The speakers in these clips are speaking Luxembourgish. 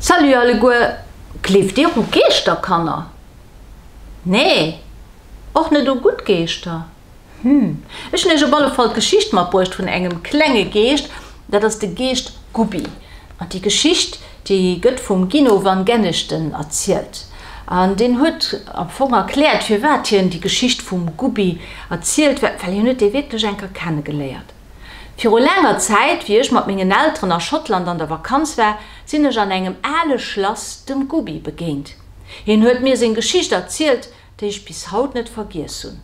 Salut alleguer, gleeft dir u Geeschter Kanner? Nee? Och net u gutt Geeschter? Hm, ech hunn iech op alle Fall d'Geschicht matbruecht vun engem klenge Geescht, dat ass de Geescht Gubbi. An déi Geschicht, déi gëtt vum Gino van Genechten erzielt. An deen huet am Fong erkläert, firwat hien déi Geschicht vum Gubbi erzielt, well hien huet dee wierklech eng Kéier kennegeléiert. Viru laanger Zäit, wéi ech mat mengen Elteren a Schottland an der Vakanz war, sinn ech an engem ale Schlass dem Gubbi begéint. Hien huet mir seng Geschicht erzielt, déi ech bis haut net vergiess hunn.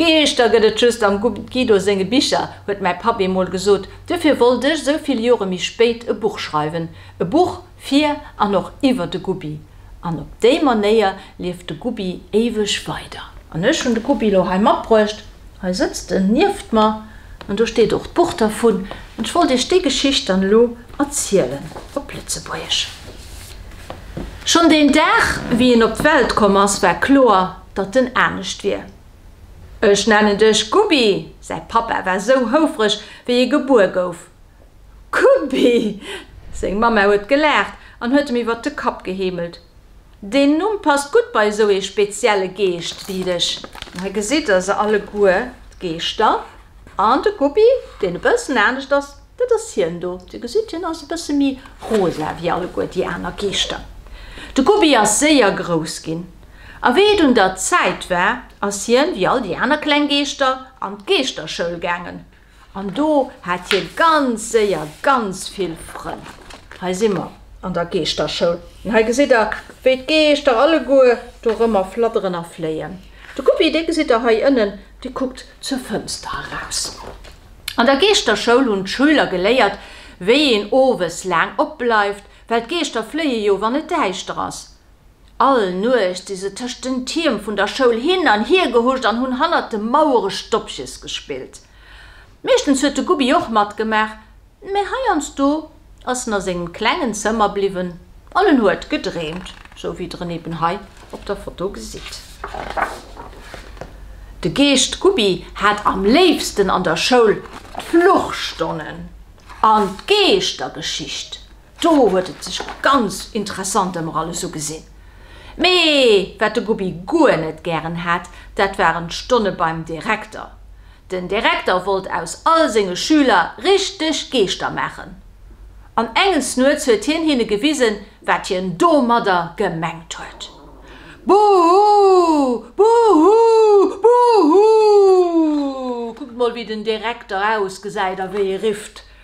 Geeschter gëtt et just am Guido senge Bicher, huet mäi Papp eemol gesot. Duerfir wollt ech, esou vill Jore méi spéit, e Buch schreiwen. E Buch fir an och iwwer de Gubbi. An op déi Manéier lieft de Gubbi éiweg weider. An ech hunn de Gubbi elo hei matbruecht. Hei sëtzt en nieft mer an do steet och d'Buch dervun. An ech wollt iech déi Geschicht dann elo erzielen op Lëtzebuergesch. Schonn deen Dag, wéi en op d'Welt komm ass, war kloer, datt en anescht wier. Ech nennen dech Gubbi! Säi Pappa war sou houfreg, wéi e gebuer gouf. Gubbi! Seng Mamma huet gelaacht an huet em iwwert de Kapp geheemelt. Deen Numm passt gutt bei esou ee spezielle Geescht wéi dech. Hei gesitt der se alleguer, d'Geeschter. An de Guppi, deen e bëssen anescht ass, dat ass hien do. Dir gesitt, hien ass e bësse méi rosa wéi alleguer déi aner Geeschter. De Guppi ass séier grouss ginn. A wéi et un der Zäit war, ass hien, wéi all déi aner kleng Geeschter, an d'Geeschterschoul gaangen. An do hat hie ganz séier ganz vill Frënn. Hei si mer an der Geeschterschoul an hei gesitt der, wéi d'Geeschter alleguer dorëmmer fladderen a fléien. De Guppi, dee gesitt der hei ënnen, dee kuckt zur Fënster eraus. An der Geeschterschoul hunn d'Schüler geléiert, wéi een owes laang opbleift, well d'Geeschter fléie jo, wann et däischter ass. All Nuecht si se tëscht den Tierm vun der Schoul hin an hier gehuscht an hunn hannert de Mauere Stoppches gespillt. Meeschtens huet de Gubbi och matgemaach, mä heiansdo ass en a sengem klengen Zëmmer bliwwen an en huet gedreemt, sou wéi der en eben hei op der Foto gesitt. De Geescht Gubbi hat am léifsten an der Schoul d'Fluchstonnen an d'Geeschtergeschicht. Do huet et sech ganz interessant ëmmer alles ugesinn. Mee wat de Gubbi guer net gären hat, dat waren d'Stonne beim Direkter. Den Direkter wollt aus all senge Schüler richteg Geeschter maachen. An enges Nuets huet hien hinne gewisen, wat hien domadder gemengt huet. Buhu! Buhu! Buhu! Kuckt mol, wéi den Direkter ausgesäit a wéi e rifft.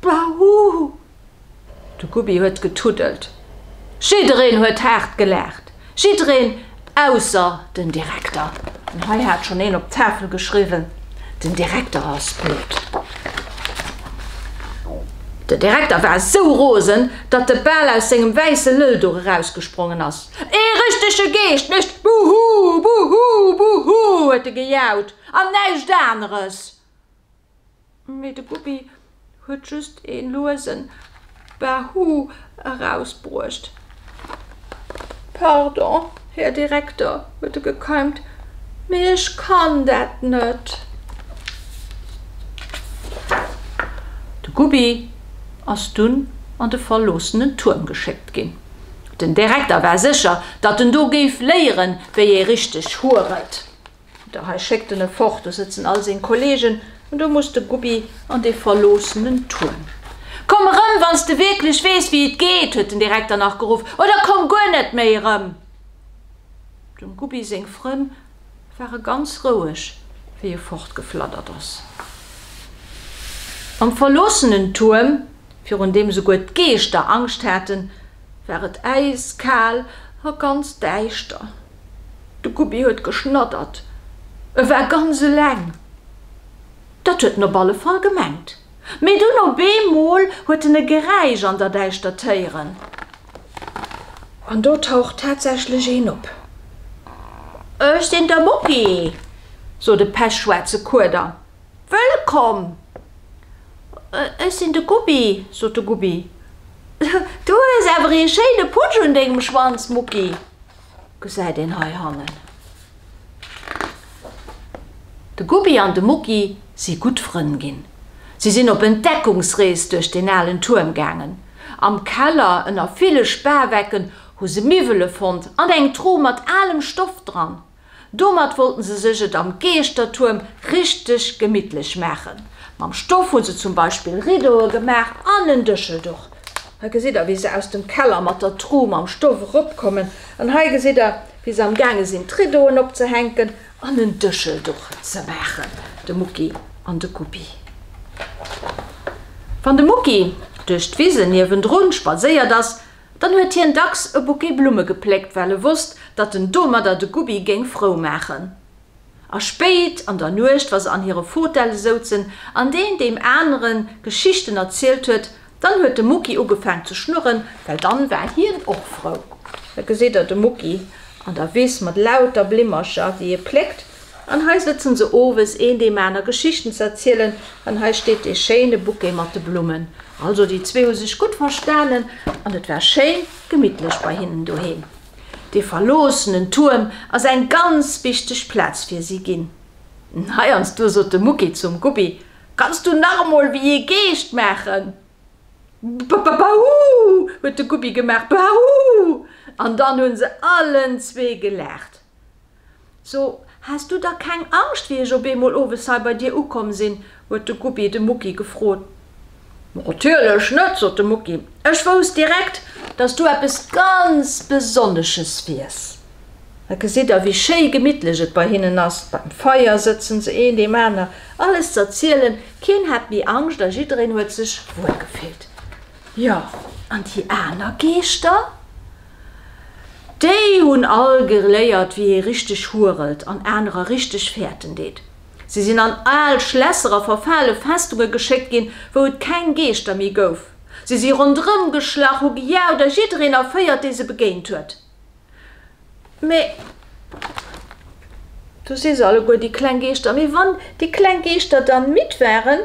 Bahuhu! De Gubbi huet getuddelt. Jiddereen huet haart gelaacht. Jiddereen ausser den Direkter. An hei hat schonn een op d'Tafel geschriwwen, Den Direkter ass dout. Den Direkter war esou rosen, datt de bal aus sengem wäisse Lëllduch erausgesprongen ass. Ee richtege Geescht mécht Buhu! Buhu! Buhu! huet e gejaut. An näischt aneres! Mee de Bubi huet just ee luesen Bahu erausbruecht. Pardon, Här Direkter, huet e gekeimt, mee ech kann dat net! De Bubi ass dunn an de verloossenen Tuerm geschéckt ginn. Den Direkter war sécher, datt en do géif léieren, wéi ee richteg huret. Da hei schéckt en e fort, do sëtzen all seng Kollegen, an do muss de Gubbi an dee verloossenen Tuerm. Komm erëm, wann s de wierklech weess, wéi et geet! huet den Direkter nach geruff, oder komm guer net méi erëm! Dem Gubbi seng Frënn ware ganz roueg, wéi e fortgefladdert ass. Am verloossenen Tuerm, virun deem souguer d'Geeschter Angscht haten, war et äiskal a ganz däischter. De Gubbi huet geschnaddert. E war ganz eleng. Dat huet en op alle Fall gemengt. Mee dunn op eemol huet en e Geräisch an der Däischtert héieren. An do taucht tatsächlech een op. Ech sinn de Mucki, sot e pechschwaarze Kueder. Wëllkomm! Ech sinn de Gubbi, sot de Gubbi. Du hues awer ee schéine Putsch un dengem Schwanz, Mucki. Gesäit een hei hannen. De Gubbi an de Mucki si gutt Frënn ginn. Si sinn op Entdeckungsrees duerch deen alen Tuerm gaangen. Am Keller, ënner ville Spawecken, hu se Miwwele fonnt an eng Tru mat alem Stoff dran. Domat wollten se sech et am Geeschtertuerm richteg gemittlech maachen. Mam Stoff hu se zum Beispill Riddoe gemaach an en Dëschelduch. Hei gesitt der, wéi se aus dem Keller mat der Tru mam Stoff eropkommen. An hei gesitt der, wéi se am gaange sinn, d'Riddoen opzehänken an en Dëschelduch ze maachen, de Mucki an de Guppi. Wann de Mucki duerch d'Wisen niewendrun spadséiert ass, Dann huet hien dacks e Bouquet Blumme gepléckt, well e wosst, datt en domadder de Gubbi géing frou maachen. A spéit an der Nuecht, wa se an hire Fotelle souzen an deen deem anere Geschichten erzielt huet, dann huet de Mucki ugefaang ze schnurren, well dann war hien och frou. Da geséit Der de Mucki an der Wiss mat lauter Blimmercher, déi e pléckt. An hei sëtzen se owes een deem aner Geschichten z'erzielen, an hei steet dee schéine Bouquet mat de Blummen. Also déi zwee hu sech gutt verstanen an et war schéin gemittlech bei hinnen doheem. Dee verloossenen Tuerm ass eng ganz wichteg Plaz fir si ginn. Heiansdo sot de Mucki zum Guppi, Kanns du nach emol wéi ee Geescht maachen? Ba-ba-ba-hu! huet de Guppi gemaach, Ba-hu! An dann hunn se allen zwee gelaacht. So, has du da keng Angscht, wéi ech op eemol owes hei bei dir ukomm sinn? huet de Gubbi de Mucki gefrot. Natierlech net, sot de Mucki. Ech wousst direkt, dass du eppes ganz Besonnesches wiers. Da gesitt der, wéi schéi gemittlech et bei hinnen ass. Beim Feier sëtzen se, een deem aner alles z'erzielen. Keen hat méi Angscht a jiddereen huet sech wuel gefillt. Jo, an déi aner Geeschter? Déi hunn all geléiert, wéi ee richteg hurelt an anerer richteg fäerten deet. Si sinn an al Schlässer a verfale Festunge geschéckt ginn, wou et keng Geeschter méi gouf. Si si ronderëm geschlach, hu gejaut a jiddereen erféiert, dee se begéint huet. Mee du si se alleguer, déi kleng Geeschter. Mee wann déi kleng Geeschter dann midd waren.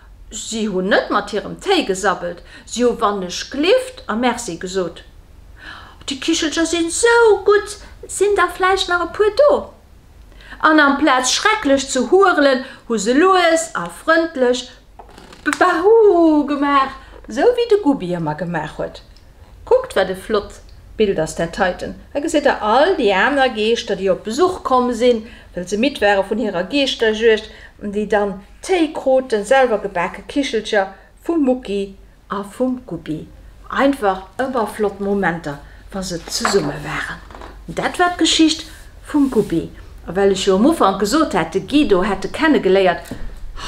Si hunn net mat hirem Téi gesabbelt, si hu wannech gleeft a Merci gesot. Déi Kichelcher sinn sou gutt, sinn der vläicht nach e puer do? An amplaz schrecklech ze hurelen, hu se lues a frëndlech Bahuuh gemaach, sou wéi de Gubbi ëmmer gemaach huet. Kuckt, wat e flott Bild ass dat heiten! Hei gesitt der all déi aner Geeschter, déi op Besuch komm sinn, well se midd ware vun hirer Geeschterjuegd, déi dann Téi kruten selwer gebake Kichelcher vum Mucki a vum Gubbi. Einfach ëmmer flott Momenter wa se zesumme waren. An dat war d'Geschicht vum Gubbi. A well ech jo um Ufank gesot hat, de Guido hätt e kenne geléiert,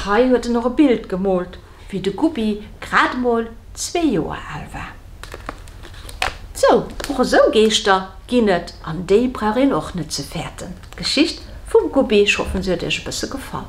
hei huet en och e Bild gemoolt, wéi de Gubbi grad emol zwee Joer al war. Sou, och esou Geeschter ginn et an déi brauch een och net ze fäerten. D'Geschicht vum Gubbi, ech hoffen se huet iech e bësse gefall.